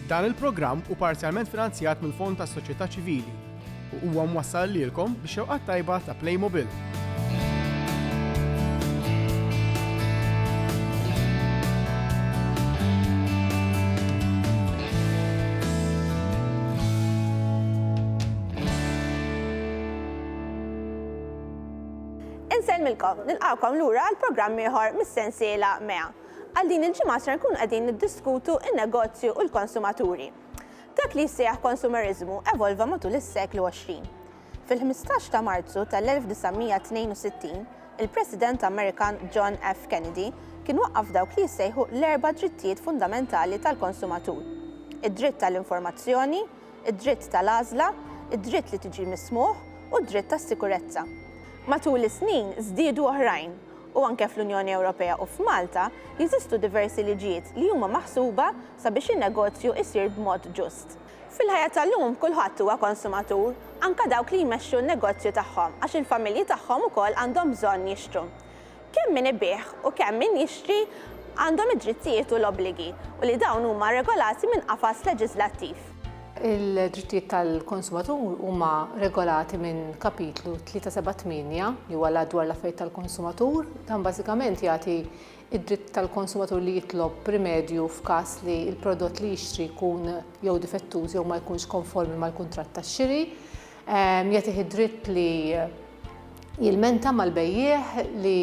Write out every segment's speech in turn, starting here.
Dan il-programm u parzjalment finanzjat mill-Fond tas-Soċjetà Ċivili u huwa mwassal lilkom biex xewqat tajba ta' Playmobil. Insellmilkom, nilqawkom lura għal programm ieħor mis-sensiela MEA. Għal din il-ġimgħa ser nkunu qegħdin niddiskutu n-negozju u l-konsumaturi. Dak li jissejjaħ konsumerizmu evolva matul is-seklu 20. Fil-ħmistax ta' Marzu tal-1962, il-President Amerikan John F. Kennedy kien waqqaf dawk li jissejħu l-erba' drittijiet fundamentali tal-konsumatur, id-dritt għall-informazzjoni, id-dritt tal-għażla, id-dritt li tiġi mismugħ u d-dritt għas-sikurezza. Matul is-snin żdiedu oħrajn, u anke fl-Unjoni Ewropea u f'Malta jeżistu diversi liġijiet li huma maħsuba sabiex in-negozju jsir b'mod ġust. Fil-ħajja tal-lum kulħadd huwa konsumatur, anke dawk li jmexxu n-negozju tagħhom għax il-familji tagħhom ukoll għandhom bżonn jixtru. Kemm min ibigħ u kemm min jixtri għandhom id-drittijiet u l-obbligi u li dawn huma regolati minn qafas leġiżlattiv. Il-drittijiet tal-konsumatur huma regolati minn Kapitlu 378, li huwa l-Att dwar l-Affarijiet tal-Konsumatur. Dan bażikament jagħti id-dritt tal-konsumatur li jitlob rimedju f'każ li l-prodott li jixtri jkun jew difettuż jew ma jkunx konformi mal-kuntratt tax-xiri, ehm, jagħtih id-dritt li jilmenta mal-bejjiegħ li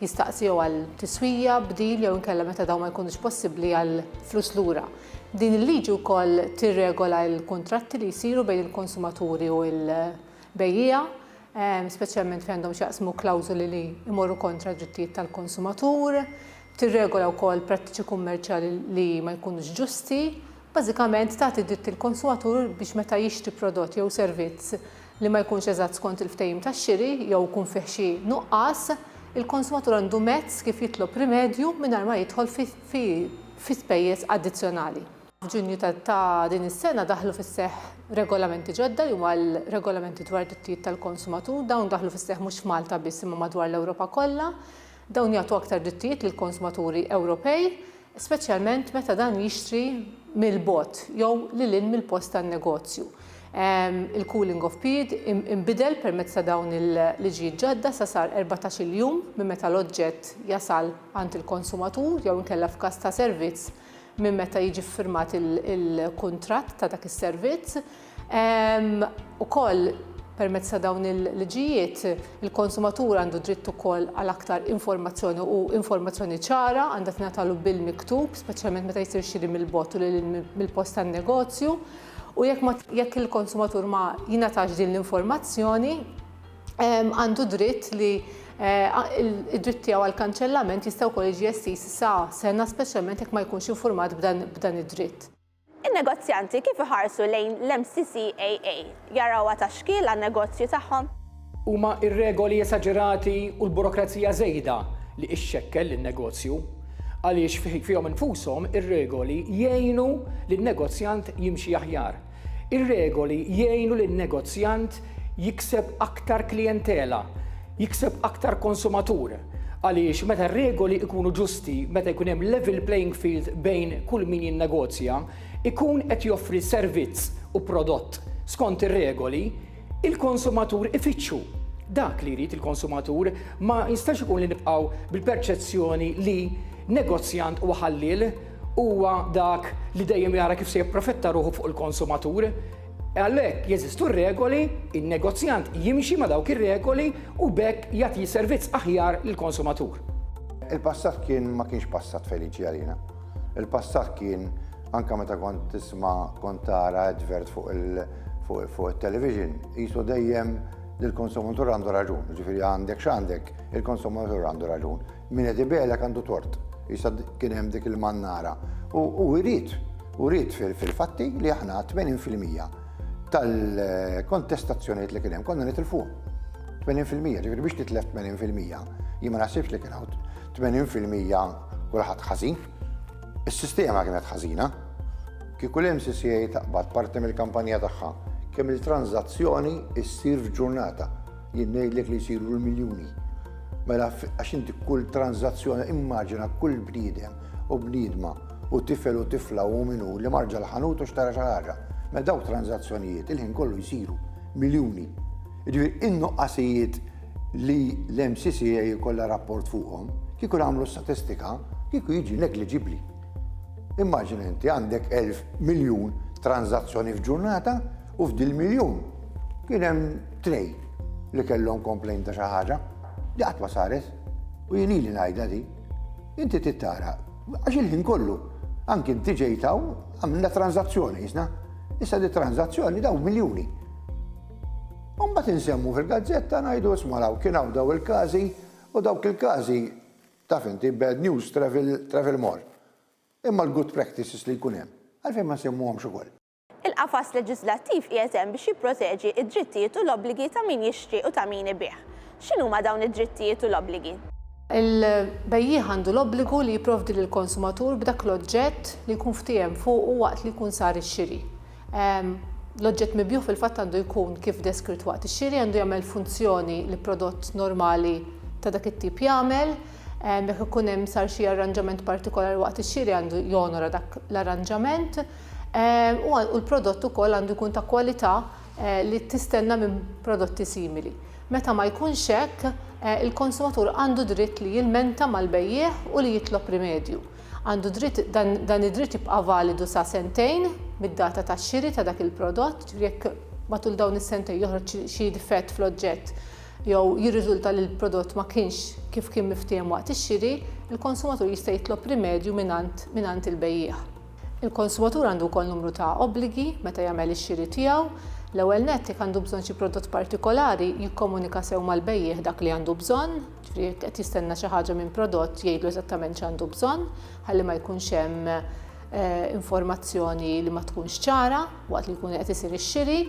jistaqsiju għal tiswija, bdil jew inkella meta dawn ma jkunux possibbli għal flus lura. Din il-liġi wkoll tirregola l-kuntratti li jsiru bejn il-konsumaturi u l-bejjiegħa speċjalment fejn għandhom x'jaqsmu klawżoli li jmorru kontra d-drittijiet tal-konsumatur, tirregola wkoll prattiċi kummerċjali li ma jkunux ġusti, bażikament tagħti dritt lill-konsumatur biex meta jixtri prodott jew servizz li ma jkunx eżatt skont il-ftehim ta' xiri jew ikun fih xi nuqqas, il-konsumatur għandu mezz kif jitlob rimedju mingħajr ma jidħol fi spejjeż addizzjonali. F'Ġunju ta' din is-sena daħlu fis-seħħ regolamenti ġodda li huma l-Regolamenti dwar id-Drittijiet tal-Konsumatur. Dawn daħlu fis-seħħ mhux f'Malta biss imma madwar l-Ewropa kollha. Dawn jagħtu aktar drittijiet lill-konsumaturi Ewropej, speċjalment meta dan jixtri mill-bogħod jew lil hinn mill-post tan-negozju. Il-cooling off period inbidel permezz ta' dawn il-liġijiet ġodda sa sar erbatax-il jum minn meta l-oġġett jasal għand il-konsumatur jew inkella f'każ ta' servizz minn meta jiġi ffirmat il-kuntratt ta' dak is-servizz. Ukoll permezz ta' dawn il-liġijiet, il-konsumatur għandu dritt ukoll għal aktar informazzjoni u informazzjoni ċara għandha tingħatalu bil-miktub, speċjalment meta jsir xiri mill-bogħod u lil mill-post tan-negozju. U jekk jekk il-konsumatur ma jingħatax din l-informazzjoni, għandu dritt li id-dritt tiegħu għal kanċellament jista' wkoll jiġi estiż sa sena speċjalment jekk ma jkunx infurmat b'dan id-dritt. In-negozjanti kif iħarsu lejn l-MCCAA? Jarawha ta' xkiel għan-negozju tagħhom? Huma r-regoli esaġerati u l-burokrazija żejda li ixxekkel lin-negozju, għaliex fihom infushom ir-regoli jgħinu lin-negozjant jimxi aħjar. Ir-regoli jgħinu lin-negozjant jikseb aktar klijentela, jikseb aktar konsumatur, għaliex meta r-regoli jkunu ġusti, meta jkun hemm level playing field bejn kull min jinnegozja, ikun qed joffri servizz u prodott skont ir-regoli, il-konsumatur ifittxu dak li jrid il-konsumatur, ma jistax ikun li nibqgħu bil-perċezzjoni li negozjant huwa ħalliel, Huwa dak li dejjem jara kif se japprofitta ruħu fuq il-konsumatur. Għalhekk jeżistu r-regoli, in-negozjant jimxi ma' dawk ir-regoli u b'hekk jagħti servizz aħjar lill-konsumatur. Il-passat kien ma kienx passat feliċi għalina. Il-passat kien anke meta kont tisma' kont tara advert fuq fuq it-television qisu dejjem li l-konsumatur għandu raġun, jiġifieri għandek x'għandek, il-konsumatur għandu raġun. Min qed ibiegħlek għandu tort. Issa kien hemm dik il-mannara. U jrid, u jrid fil-fatti li aħna 80% tal-kontestazzjonijiet li kien hemm konna nitilfu. 80% ġifieri biex titlef 80% jien ma naħsibx li kien hawn 80% kulħadd ħażin. Is-sistema kienet ħażina. Kieku l-MCCA taqbad parti mill-kampanja tagħha kemm il-tranżazzjoni issir f'ġurnata. Jien ngħidlek li jsiru l-miljuni. Mela għax inti kull tranzazzjoni immaġina kull bniedem u bniedma u tifel u tifla u minu li marġa l-ħanut u xtara xi ħaġa. Mela dawk tranzazzjonijiet il-ħin kollu jsiru miljuni. Ġifieri in-nuqqasijiet li l-MCCA jkollha rapport fuqhom, kieku nagħmlu statistika, kieku jiġi negliġibbli. Immaġina inti għandek 1000 miljun tranzazzjoni f'ġurnata, U f'dil miljun kien hemm tnej li kellhom komplejn ta' xi ħaġa li qatt ma saret. U jien ili ngħidha di. Inti tittara, għax il-ħin kollu, anki inti ġejtaw għamilna tranzazzjoni jisna. Issa di tranzazzjoni daw miljuni. Umbat insemmu fil-gazzetta ngħidu ismalaw kien hawn daw il-każi u dawk il-każi taf inti bad news travel more. Imma l-good practices li jkun hemm, għalfejn ma nsemmuhomx ukoll? Il-qafas leġiżlattiv qiegħed hemm biex jipproteġi d-drittijiet u l-obbligi ta' min jixtri u ta' min ibigħ. X'inhuma dawn id-drittijiet u l-obbligi? Il-bejjiegħ għandu l-obbligu li jipprovdi lill-konsumatur b'dak l-oġġett li jkun ftiehem fuqu waqt li jkun sar ix-xiri. L-oġġett mibjugħ fil-fatt għandu jkun kif deskritt waqt ix-xiri, għandu jagħmel funzjoni li prodott normali ta' dak it-tip jagħmel. Jekk ikun hemm sar xi arranġament partikolari waqt ix-xiri għandu jonora dak l-arranġament. u l-prodott ukoll għandu jkun ta' kwalità li tistenna minn prodotti simili. Meta ma jkunx hekk, il-konsumatur għandu dritt li jilmenta mal-bejjiegħ u li jitlob rimedju. Għandu dritt dan id-dritt jibqa' validu sa sentejn mid-data tax-xiri ta' dak il-prodott, ġifieri jekk matul dawn is-sentejn joħroġ xi difett fl-oġġett jew jirriżulta li l-prodott ma kienx kif kien miftiehem waqt ix-xiri, il-konsumatur jista' jitlob rimedju mingħand il-bejjiegħ. Il-konsumatur għandu wkoll numru ta' obbligi meta jagħmel ix-xiri tiegħu. L-ewwel nett, jekk għandu bżonn xi prodott partikolari, jikkomunika sew mal-bejjiegħ dak li għandu bżonn, ġifieri jekk qed jistenna xi ħaġa minn prodott jgħidlu eżattament x'għandu bżonn ħalli ma jkunx hemm informazzjoni li ma tkunx ċara. waqt li jkun qed isir ix-xiri.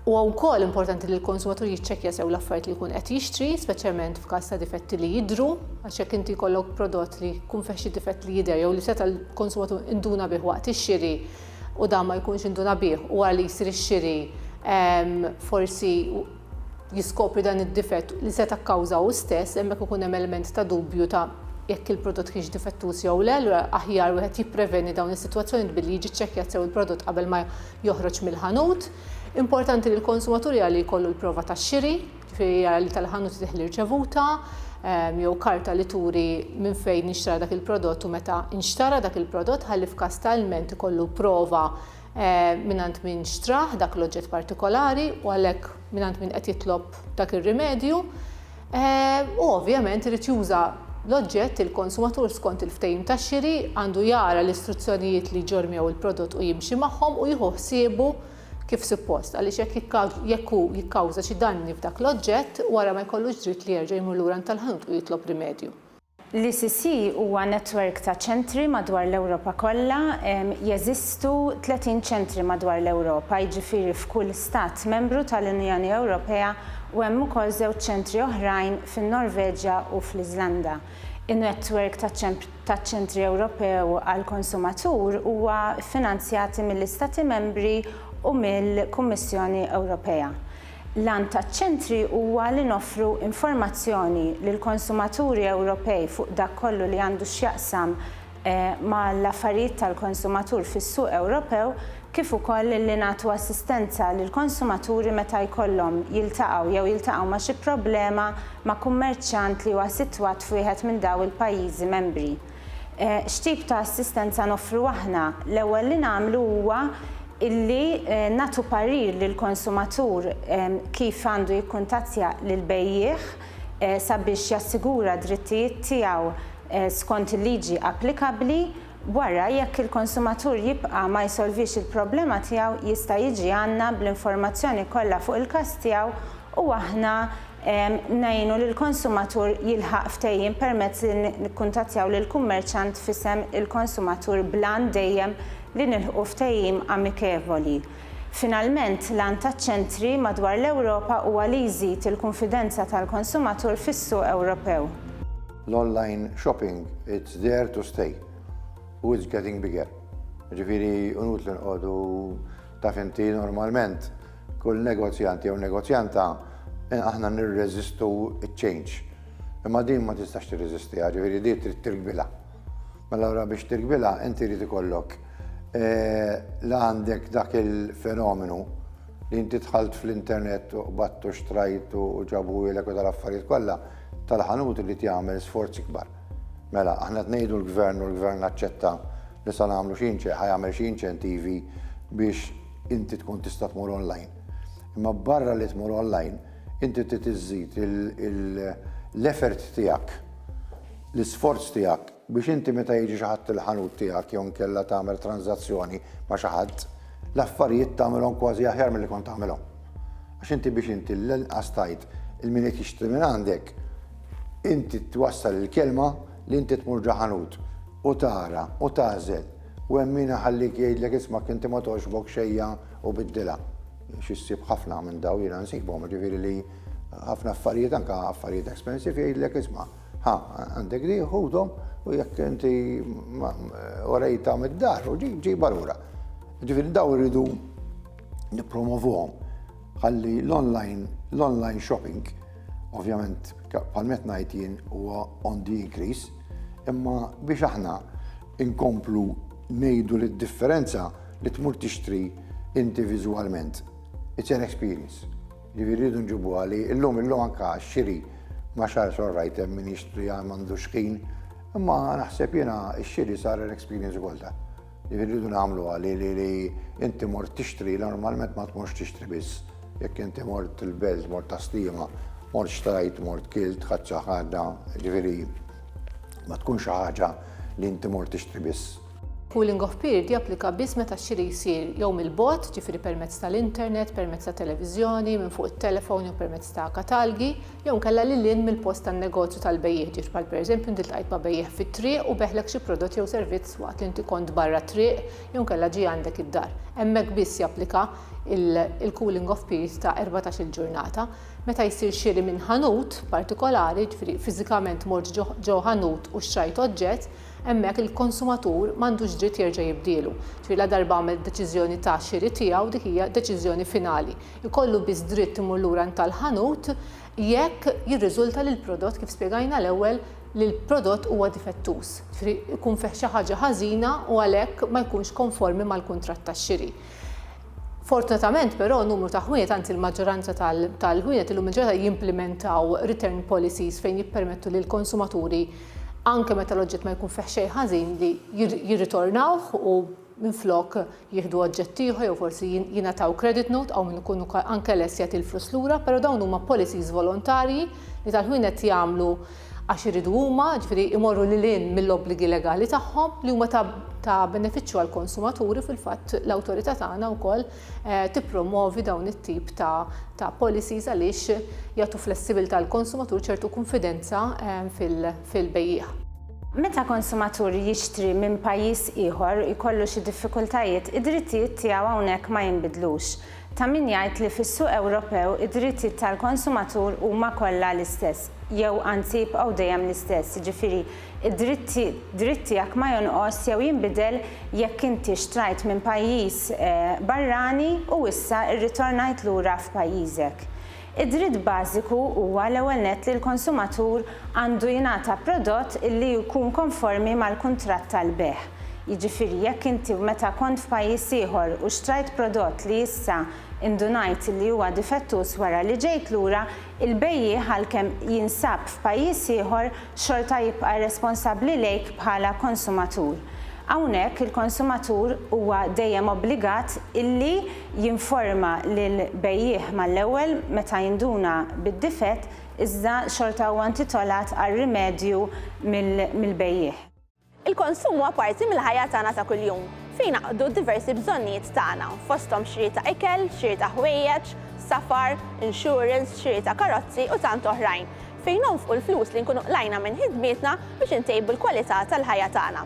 Huwa wkoll importanti li l-konsumatur jiċċekkja sew l-affarijiet li jkun qed jixtri, speċjalment f'każ ta' difetti li jidhru, għax jekk inti jkollok prodott li jkun fih xi difett li jidher jew li seta' l-konsumatur induna bih waqt ix-xiri u dan ma jkunx induna bih u wara li jsir ix-xiri ehm, forsi jiskopri dan id-difett li seta' kkawża hu stess, hemmhekk ikun hemm element ta' dubju ta' jekk il-prodott kienx difettuż jew le, allura aħjar wieħed jippreveni dawn is-sitwazzjonijiet billi jiġi ċċekkjat sew il-prodott qabel ma joħroġ mill-ħanut. Importanti li l-konsumatur jara li jkollu l-prova tax-xiri, ġifieri jara li tal-ħanut idih l-irċevuta ehm, jew karta li turi minn fejn inxtara dak il-prodott u meta inxtara dak il-prodott ħalli f'każ ta' ilment ikollu prova mingħand min xtrah dak l-oġġett partikolari u għalhekk mingħand min qed jitlob dak ir-rimedju u ovvjament irid juża l-oġġett il-konsumatur skont il-ftehim ta' xiri għandu jara l-istruzzjonijiet li jġormjew il-prodott u jimxi magħhom u jieħu ħsiebu kif suppost għaliex jekk jekk hu jikkawża xi danni f'dak l-oġġett wara ma jkollux dritt li jerġa' jmur lura għand tal-ħanut u jitlob rimedju. L-ECC huwa netwerk ta' ċentri madwar l-Ewropa kollha. Jeżistu 30 ċentri madwar l-Ewropa, jiġifieri f'kull Stat Membru tal-Unjoni Ewropea u hemm ukoll żewġ ċentri oħrajn fin-Norveġja u fl-Iżlanda. In-netwerk taċ-Ċentri Ewropew għall-Konsumatur huwa ffinanzjati mill-Istati Membri u mill-Kummissjoni Ewropea. L-għan taċ-ċentri huwa li noffru informazzjoni lill-konsumaturi Ewropej fuq dak kollu li għandu x'jaqsam mal-affarijiet tal-konsumatur fis-suq Ewropew kif ukoll li nagħtu assistenza lill-konsumaturi meta jkollhom jiltaqgħu jew jiltaqgħu ma' xi problema ma' kummerċjant li huwa sitwat f'wieħed minn dawn il-pajjiżi membri. X'tip ta' assistenza noffru aħna? L-ewwel li nagħmlu huwa illi nagħtu parir lill-konsumatur kif għandu jikkuntattja lill-bejjiegħ sabiex jassigura d-drittijiet tiegħu skont il-liġi applikabbli. Wara, jekk il-konsumatur jibqa' ma jsolvix il-problema tiegħu, jista' jiġi għandna bl-informazzjoni kollha fuq il-każ tiegħu u aħna ngħinu lill-konsumatur jilħaq ftehim permezz li nikkuntattjaw lill-kummerċant f'isem il-konsumatur bl-għan dejjem li nilħqu ftehim amikevoli. Finalment, l-għan taċ-ċentri madwar l-Ewropa huwa li jżid il-kunfidenza tal-konsumatur fis-suq Ewropew. L-online shopping, it's there to stay u it's getting bigger. Jiġifieri inutli noqogħdu, taf inti, normalment Kull negozjant jew negozjanta aħna nirreżistu ċ-change. Imma din ma tistax tirreżistiha, ġifieri din trid tirkbilha. Mela ora biex tirkbilha inti jrid ikollok la għandek dak il-fenomenu li inti dħalt fl-internet u qbattu xtrajt u ġabu ilek u tal-affarijiet kollha tal-ħanut li jagħmel sforzi kbar. Mela, aħna tnejdu l-gvern u l-gvern naċċetta li sa nagħmlu xi ħajamel xi inċentivi biex Inti tkun tista' tmur online. Imma barra li tmur online, inti trid iżżid l-effort tiegħek, l-isforz tiegħek biex inti meta jiġi xi ħadd il-ħanut tiegħek jew inkella tagħmel tranżazzjoni ma' xi ħadd, l-affarijiet tagħmilhom kważi aħjar milli kont tagħmilhom. Għax inti biex inti l-inqas tgħid il min qed jixtri minn għandek, inti twassal il-kelma li inti tmur ġo ħanut u tara u tagħżel U hemm min iħallik jgħidlek ismak inti ma togħġbok xejja u biddilha. Xi ssib ħafna minn daw jiena nsibhom, jiġifieri li ħafna affarijiet anke affarijiet expensive jgħidlek isma' ħa għandek di ħudhom u jekk inti orejta mid-dar u ġibha lura. Ġifieri daw irridu nippromovuhom. Ħalli l-online l-online shopping ovvjament bħal met ngħid jien huwa on the increase imma biex aħna Inkomplu ngħidu li d-differenza li tmur tixtri inti viżwalment, it's an experience. Jiġifieri rridu nġibuha li llum illum anke għax-xiri ma x'għaliex all right hemm min jixtri għal m'għandux ħin, imma naħseb jiena x-xiri sar an experience ukoll dan. Jiġifieri rridu nagħmluha li li inti mort tixtri normalment ma tmorx tixtri biss. Jekk inti mort il-belt, mort għas-slima, mort xtrajt, mort kilt, ħadt xi ħaġa, jiġifieri ma tkun xi ħaġa li inti mort tixtri biss. Pooling of period japplika biss meta x-xiri jsir jew mill-bogħod, ġifieri permezz tal-internet, permezz ta' televiżjoni, minn fuq it-telefon jew permezz ta' katalgi, jew inkella lil hinn mill-post tan-negozju tal-bejjiegħ, ġifieri bħal pereżempju inti ltqajt ma' bejjiegħ fit-triq u beħlek xi prodott jew servizz waqt li inti kont barra t-triq jew inkella ġie għandek id-dar. Hemmhekk biss japplika il-cooling off period ta' erbatax-il ġurnata. Meta jsir xiri minn ħanut partikolari, jiġifieri fiżikament mort ġo ħanut u xtrajt oġġett, hemmhekk il-konsumatur m'għandux dritt jerġa' jibdielu. Jiġifieri ladarba għamel deċiżjoni ta' xiri tiegħu, dik hija deċiżjoni finali. Ikollu biss dritt imur lura għand tal-ħanut jekk jirriżulta li l-prodott, kif spjegajna l-ewwel, li l-prodott huwa difettuż, jiġifieri jkun fih xi ħaġa ħażina u għalhekk ma jkunx konformi mal-kuntratt ta' xiri. Fortunatament però numru ta' ħwienet, anzi l-maġġoranza tal-ħwienet illum il-ġurnata jimplimentaw return policies fejn jippermettu lill-konsumaturi anke meta l-oġġett ma jkun fih xejn ħażin li jirritornawh u minflok jieħdu oġġett ieħor jew forsi jingħataw credit note hawn min ikun anke lest jagħti l-flus lura, però dawn huma policies volontarji li tal-ħwienet jagħmlu għax iridu huma, jiġifieri jmorru lil hinn mill-obbligi legali tagħhom li huma ta' benefiċċju għall-konsumatur u fil-fatt l-awtorità tagħna wkoll tippromwovi dawn it-tip ta' policies għaliex jagħtu flessibilità lill-konsumatur ċertu kunfidenza fil-bejjiegħ. Meta konsumatur jixtri minn pajjiż ieħor jkollu xi diffikultajiet, id-drittijiet tiegħu hawnhekk ma jinbidlux. Ta' min jgħid li fis-suq Ewropew id-drittijiet tal-konsumatur huma kollha l-istess, jew anzi jibqgħu dejjem l-istess, jiġifieri d-dritt dritt tiegħek ma jonqos jew jinbidel jekk inti xtrajt minn pajjiż barrani u issa rritornajt lura f'pajjiżek. Id-dritt bażiku huwa l-ewwel nett li l-konsumatur għandu jingħata prodott li jkun konformi mal-kuntratt tal-bejgħ. Jiġifieri jekk inti meta kont f'pajjiż ieħor u xtrajt prodott li issa indunajt li huwa difettuż wara li ġejt lura, il-bejjiegħ għalkemm jinsab f'pajjiż ieħor xorta jibqa' responsabbli lejk bħala konsumatur. Hawnhekk il-konsumatur huwa dejjem obbligat illi. jinforma lill-bejjiegħ mal-ewwel meta jinduna bid-difett iżda xorta huwa intitolat għal rimedju mill-bejjiegħ. Il-konsum huwa parti mill-ħajja tagħna ta' kuljum, fejn jingħaqdu d-diversi bżonnijiet tagħna, fosthom xiri ta' ikel, xiri ta' ħwejjeġ, safar, insurance, xiri ta' karozzi u tant oħrajn, fejn nonfqu l-flus li nkunu qlajna minn ħidmietna biex intejbu l-kwalità tal-ħajja tagħna.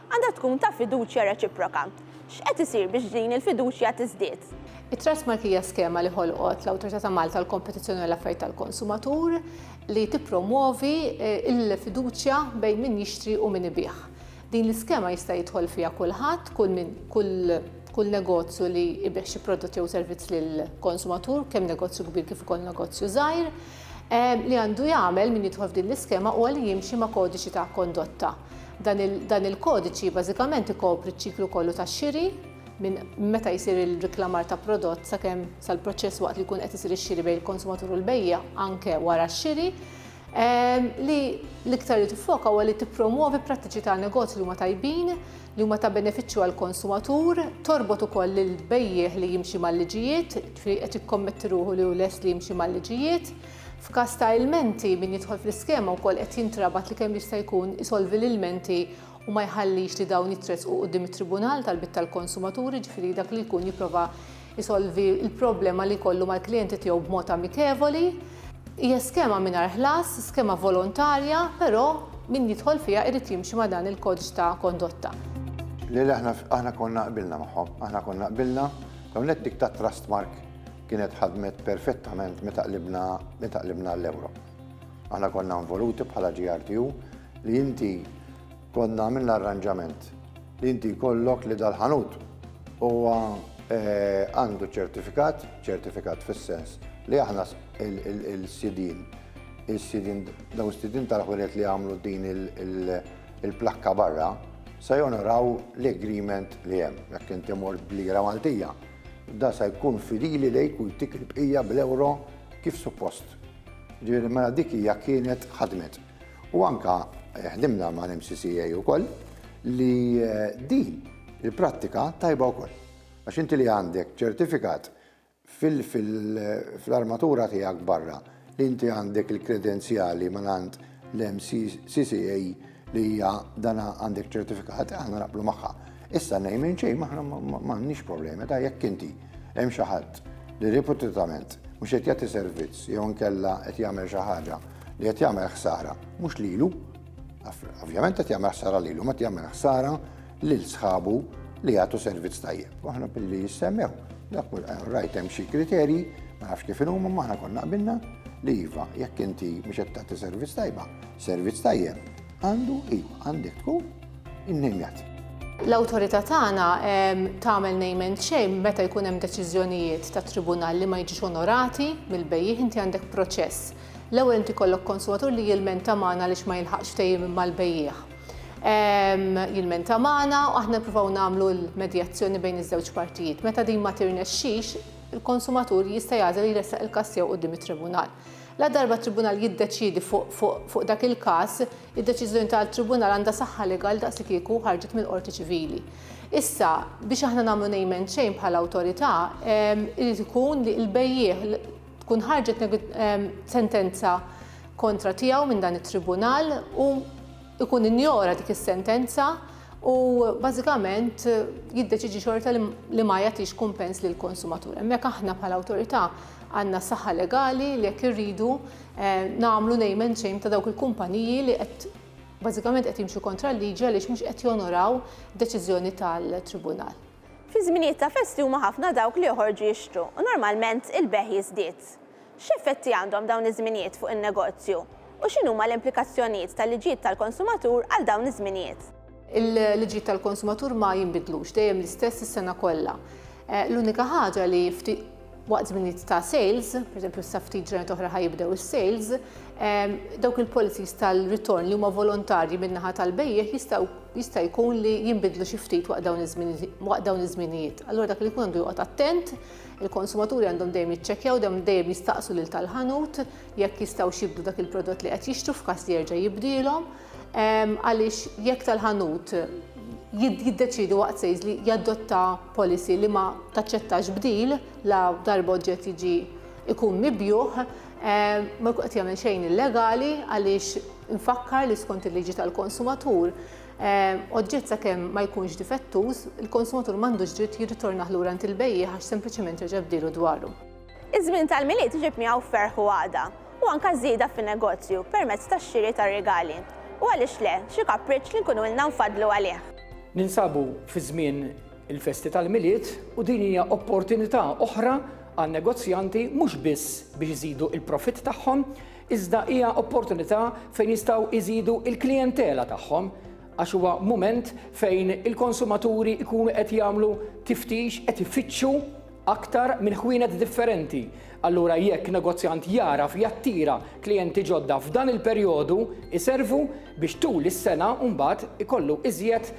Għandha tkun ta' fiduċja reċiproka. X'qed isir biex din il-fiduċja tiżdied? It-Trustmark hija skema li ħolqot l-Awtorità ta' Malta għall-Kompetizzjoni u l-Affarijiet tal-Konsumatur li tippromwovi l-fiduċja bejn min jixtri u min ibigħ. Din l-iskema jista' jidħol fiha kulħadd, kull min, kull kull negozju li jbigħ xi prodott jew servizz lill-konsumatur, kemm negozju kbir kif ukoll negozju żgħir, li għandu jagħmel min jidħol f'din l-iskema huwa li jimxi ma' kodiċi ta' kondotta. Dan il-kodiċi bażikament ikopri ċ-ċiklu kollu tax-xiri minn meta jsir il-riklamar ta' prodott sakemm sal-proċess waqt li jkun qed isir ix-xiri bejn il-konsumatur u l-bejja anke wara x-xiri ehm, li l-iktar li tiffoka huwa li tippromuovi prattiċi ta' negozju li huma tajbin, li huma ta' benefiċċju għall konsumatur torbot ukoll lil bejjieh li jimxi mal-liġijiet, qed ikkommetti ruħu li hu lest li jimxi mal-liġijiet, F'każ ta' ilmenti, min jidħol fl-iskema wkoll qed jintrabat li kemm jista' jkun isolvi l-ilmenti u ma jħallix li dawn jitressqu quddiem it-Tribunal tal-Bit tal-Konsumatur, jiġifieri dak li jkun jipprova jsolvi l-problema li jkollu mal-klijenti tiegħu b'mod amikevoli. Hija skema mingħajr ħlas, skema volontarja, però min jidħol fiha jrid jimxi ma' dan il-kodiċ ta' kondotta. Le, le, aħna konna qbilna magħhom. Aħna konna qbilna, l-ewwel nett dik tat-trustmark kienet ħadmet perfettament meta qlibna meta qlibna l-Ewro. Aħna konna involuti bħala GRTU li inti konna għamilna arranġament li inti kollok li dal-ħanut huwa eh, għandu ċertifikat, ċertifikat fis-sens li aħna il-sidin, il-sidin, daw sidin tal-ħunet li għamlu din il-plakka barra, sa jonoraw l-agreement li hemm, jekk inti mort b'lira Maltija, Dan se jkun fidili lejk u jtik il-bqija bl-euro kif suppost. Ġifieri mela dik hija kienet ħadmet. U anke ħdimna mal-MCCA wkoll li din il-prattika tajba wkoll. Għax inti li għandek ċertifikat fil-armatura tiegħek barra, li inti għandek il-kredenzjali minn għand l-MCCCA li hija dan għandek ċertifikat, aħna naqblu magħha. Issa ngħid minn xejn aħna m'għandniex problemi ta' jekk inti hemm xi ħadd li reputatament mhux qed jagħti servizz jew nkella qed jagħmel xi ħaġa li qed jagħmel ħsara mhux lilu. Ovvjament qed jagħmel ħsara lilu, ma jagħmel ħsara lil sħabu li jagħtu servizz tajjeb. Waħda billi jissemmew, dak kull eh, rajt hemm xi kriterji, ma nafx kif inhuma ma aħna konna qbilna li iva, jekk inti mhux qed tagħti servizz tajba, servizz tajjeb, għandu iva, għandek tkun innejjat. L-awtorità tagħna ehm, tagħmel name and shame meta jkun hemm deċiżjonijiet ta' tribunal li ma jiġux onorati mill-bejjih inti għandek proċess. L-ewwel inti kollok konsumatur li jilmenta magħna lix ma jilħaqx ftehim mal-bejjih. jilmenta magħna u aħna nippruvaw nagħmlu l-medjazzjoni bejn iż-żewġ partijiet. Meta din ma tirnexxix, il-konsumatur jista' jagħżel li jressaq il-każ tiegħu quddiem it-tribunal. La darba t-tribunal jiddeċiedi fuq dak il-każ, id-deċiżjoni tal-tribunal għandha saħħa legali daqsikieku ħarġet mill-qorti ċivili. Issa, biex aħna nagħmlu nejmen xejn bħala awtorità, irid ikun li l-bejjiegħ tkun ħarġet sentenza kontra tiegħu minn dan it-tribunal u ikun injora dik is-sentenza u bażikament jiddeċiġi xorta li ma jagħtix kumpens lil konsumatur. Hemmhekk aħna bħala awtorità għandna saħħa legali li jekk irridu eh, nagħmlu name and shame ta' dawk il-kumpaniji li qed bażikament qed jimxu kontra l-liġi għaliex mhux qed jonoraw deċiżjoni tal-tribunal. Fi żminijiet ta' festi huma ħafna dawk li joħorġu jixtru u normalment il-bejgħ jiżdied. X'effetti għandhom dawn iż-żminijiet fuq in-negozju? U x'inhuma l-implikazzjonijiet tal-liġijiet tal-konsumatur għal dawn iż-żminijiet? Il-liġijiet tal-konsumatur ma jinbidlux, dejjem l-istess is-sena kollha. L-unika ħaġa li waqt żminijiet ta' sales, pereżempju sa ftit ġranet oħra ħa jibdew is-sales, ehm, dawk il-policies tal-ritorn li huma volontarji min-naħa tal-bejjeħ jistgħu jista' jkun li jinbidlu xi ftit waqt dawn iż-żminijiet. Allura dak li jkun għandu joqgħod attent, il-konsumaturi għandhom dejjem jiċċekkjaw dam dejjem jistaqsu lil tal-ħanut jekk jistgħu xibdu dak il-prodott li qed jixtru f'każ li jerġa' jibdielhom. għaliex jekk tal-ħanut jiddeċidu waqt sejż li jadotta policy li ma taċċettax bdil la darba oġġett jiġi ikun mibjuħ, ma jkun qed jagħmel xejn illegali għaliex infakkar li skont il-liġi tal-konsumatur oġġett sakemm ma jkunx difettuż, il-konsumatur m'għandux dritt jirritornah lura għand il-bejjiegħ għax sempliċement reġa' bdilu dwaru. Iż-żmien tal-Milied iġib miegħu ferħ u għaqda, u anke żieda fin-negozju permezz tax-xiri ta' rigali, u għaliex le, xi kapriċċ li nkunu ilna nfaddlu għalih. Ninsabu fi żmien il-festi tal-Milied u din hija opportunità oħra għan-negozjanti mhux biss biex iżidu l-profitt tagħhom, iżda hija opportunità fejn jistgħu jżidu l-klijentela tagħhom għax huwa mument fejn il-konsumaturi jkunu qed jagħmlu tiftix, qed ifittxu aktar minn ħwienet differenti. Allura jekk negozjant jagħraf jattira klijenti ġodda f'dan il-perjodu, iservu biex tul is-sena mbagħad ikollu iżjed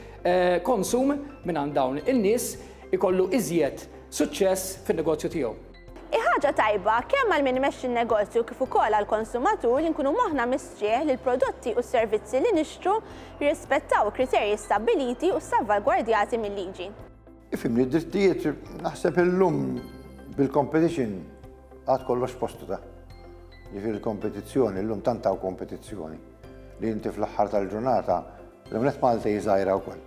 konsum mingħand dawn in-nies, ikollu iżjed suċċess fin-negozju tiegħu. Hi ħaġa tajba kemm għal min imexxi n-negozju kif ukoll għall-konsumatur li nkunu moħħna mistrieħ li l-prodotti u s-servizzi li nixtru jirrispettaw il-kriterji stabbiliti u ssalvagwardjati mil-liġi. Ifimni, drittijiet naħseb illum bil-competition għad kollox postu ta' ġifir il-kompetizzjoni, illum tantaw kompetizzjoni li inti fl-axħar tal-ġurnata l-għamlet Malta jizajra u koll.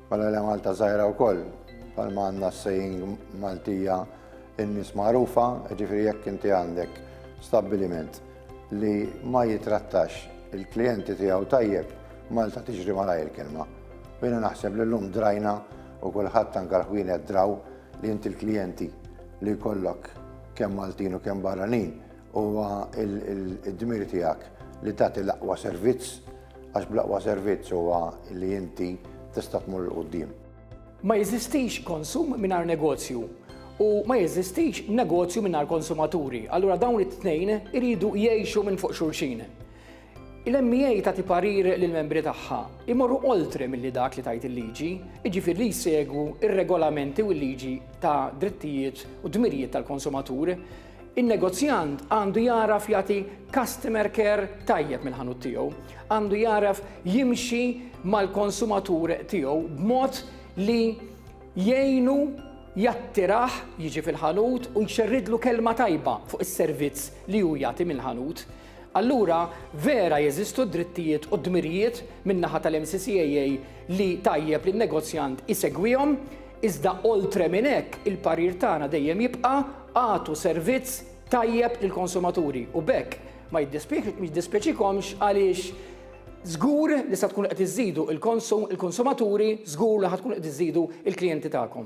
Mela li Malta zajra u koll, palma għanna s-sejn Maltija in-nis marufa, ġifiri jekk inti għandek stabiliment li ma jitrattax il-klienti tiegħu tajjeb, Malta tiġri malajr kelma. Jiena naħseb li llum drajna u kulħadd anke l-ħwienet draw li inti l-klijenti li jkollok kemm Maltin u kemm barranin huwa d-dmir tiegħek li tagħti l-aqwa servizz għax bl-aqwa servizz huwa li inti tista' tmur 'l quddiem. Ma jeżistix konsum mingħajr negozju u ma jeżistix negozju mingħajr konsumaturi, allura dawn it-tnejn iridu jgħixu minn fuq xulxin. Il-MEA tagħti parir li l-membri tagħha jmorru oltre milli dak li tgħid il-liġi, jiġifieri li jsegwu r-regolamenti u l-liġi ta' drittijiet u dmirijiet tal-konsumatur. In-negozjant għandu jagħraf jagħti customer care tajjeb mill-ħanut tiegħu, għandu jagħraf jimxi mal-konsumatur tiegħu b'mod li jgħinu jattirah jiġi fil-ħanut u jxerridlu kelma tajba fuq is-servizz li hu jagħti mill-ħanut. allura vera jeżistu d-drittijiet u d-dmirijiet min-naħa tal-MCCAA li tajjeb li n-negozjant isegwihom, iżda oltre minn hekk il-parir tagħna dejjem jibqa' agħtu servizz tajjeb lill-konsumaturi u b'hekk ma jiddispjaċikomx għaliex żgur li sa tkunu qed iżżidu l-konsumaturi, żgur li ħa tkunu qed iżżidu l-klijenti tagħkom.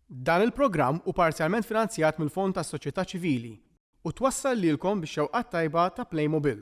Dan il-programm hu parzjalment finanzjat mill-Fond tas-Soċjetà Ċivili u twassal lilkom bix-xewqat tajba ta' Playmobil.